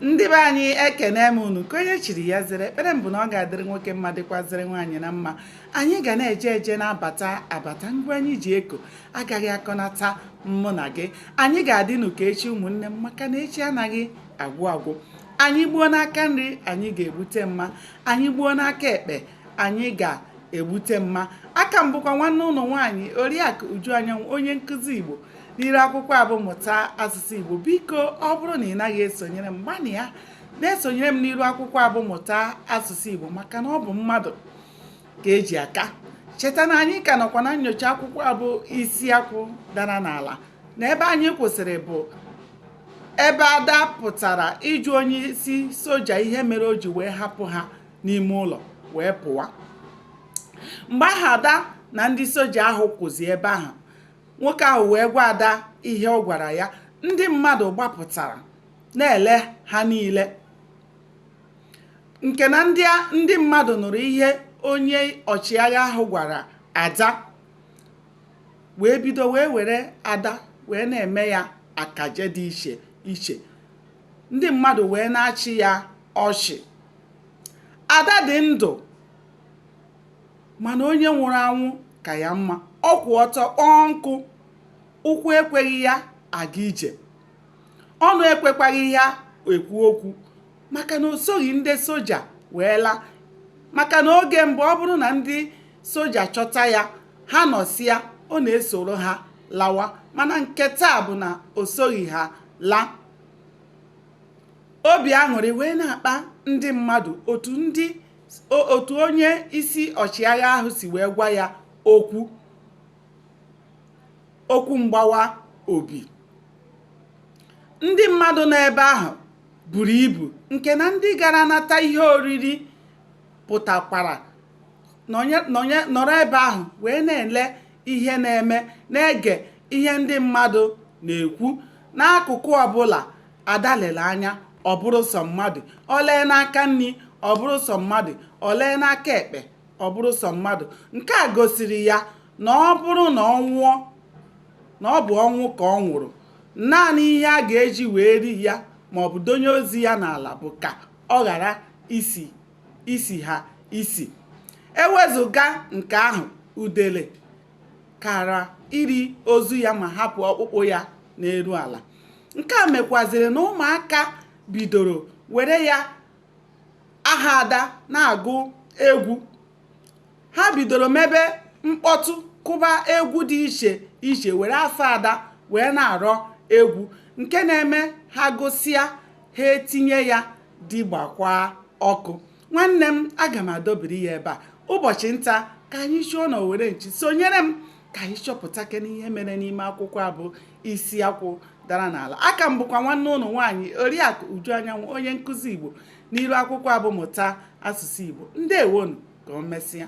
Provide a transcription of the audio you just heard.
ndị be anyị ekene m unu ka onye chiri ya zere ekpere m bụ na ọ ga-adịrị nwoke mma dịkwazịrị nwaanyị na mma anyị ga na-eje eje na-abata abata ngụ anyị ji eko agaghị akọnata mụ na gị anyị ga-adịnụ ka echi ụmụnne m maka na echi anaghị agwụ agwụ anyị gbuo n'aka nri anyị ga-egbute mma anyị gbuo n'aka ekpe anyị ga-egbute mma aka m bụkwa nwanne unu nwaanyị oriakụ uju anyanwụ onye nkụzi igbo n'iru akwụkwọ a bụ mụta asụsụ igbo biko ọ bụrụ na ị naghị esonyere m gbanịa na-esonyere m n'iru akwụkwọ a bụ mụta asụsụ igbo maka na ọ bụ mmadụ ka e ji aka cheta na anyị ka nọkwa na nnyocha akwụkwọ a bụ isi akwụ dara n'ala na ebe anyị kwụsịrị bụ ebe ada pụtara ịjụ onye isi soja ihe mere o ji wee hapụ ha n'ime ụlọ wee pụwa mgbe ahụ ada na ndị soja ahụ kwụzi ebe ahụ nwoke ahụ wee gwa ada ihe ọ gwara ya ndị mmadụ gbapụtara na-ele ha niile nke na ndị mmadụ nụrụ ihe onye ọchịagha ahụ gwara ada wee bido wee were ada wee na-eme ya akaje dị iche iche ndị mmadụ wee na-achị ya ọchị ada dị ndụ mana onye nwụrụ anwụ ka ya mma ọ kwụ ọtọ kpọọ nkụ ụkwụ ekweghị ya aga ije ọnụ ekwekwaghị ya ekwu okwu maka na o soghị ndị soja wee laa maka na oge mbụ ọ bụrụ na ndị soja chọta ya ha nọsịa ọ na-esoro ha lawa mana nke taa bụ na o soghị ha laa obi aṅụrị wee na-akpa ndị mmadụ otu onye isi ọchịagha ahụ si wee gwa ya okwu mgbawa obi ndị mmadụ nọ ebe ahụ buru ibu nke na ndị gara nata ihe oriri pụtakwara nọrọ ebe ahụ wee na-ele ihe na-eme na-ege ihe ndị mmadụ na-ekwu n'akụkụ ọbụla ada lere anya ọ bụrụ sọ mmadụ o lee n'aka nri ọ bụrụ sọ mmadụ o lee n'aka ekpe ọ bụrụ sọ mmadụ nke a gosiri ya na ọ bụrụ na ọ nwụọ na ọ bụ ọnwụ ka ọ nwụrụ naanị ihe a ga-eji wee lie ya maọbụ donye ozu ya n'ala bụ ka ọ ghara isi isi ha isi ewezuga nke ahụ udele kara iri ozu ya ma hapụ ọkpụkpụ ya n'elu ala nke a mekwaziri na ụmụaka bidoro were ya aha ada na-agụ egwu ha bidoro mebe mkpọtụ kụba egwu dị iche iche were afa ada wee na-arọ egwu nke na-eme ha gụsịa ha etinye ya di gbakwa ọkụ nwanne m aga m adọbiri ya ebe a ụbọchị nta ka anyị chụọ na owere nchi sonyere m ka anyị chọpụtakene ihe mere n'ime akwụkwọ a bụ isi akwụ dara n'ala aka m bụkwa nwanne unu nwaanyị oriakụ uju anyanwụ onye nkụzi igbo n'iru akwụkwọ a bụ mụta asụsụ igbo ndewonu ka o mesịa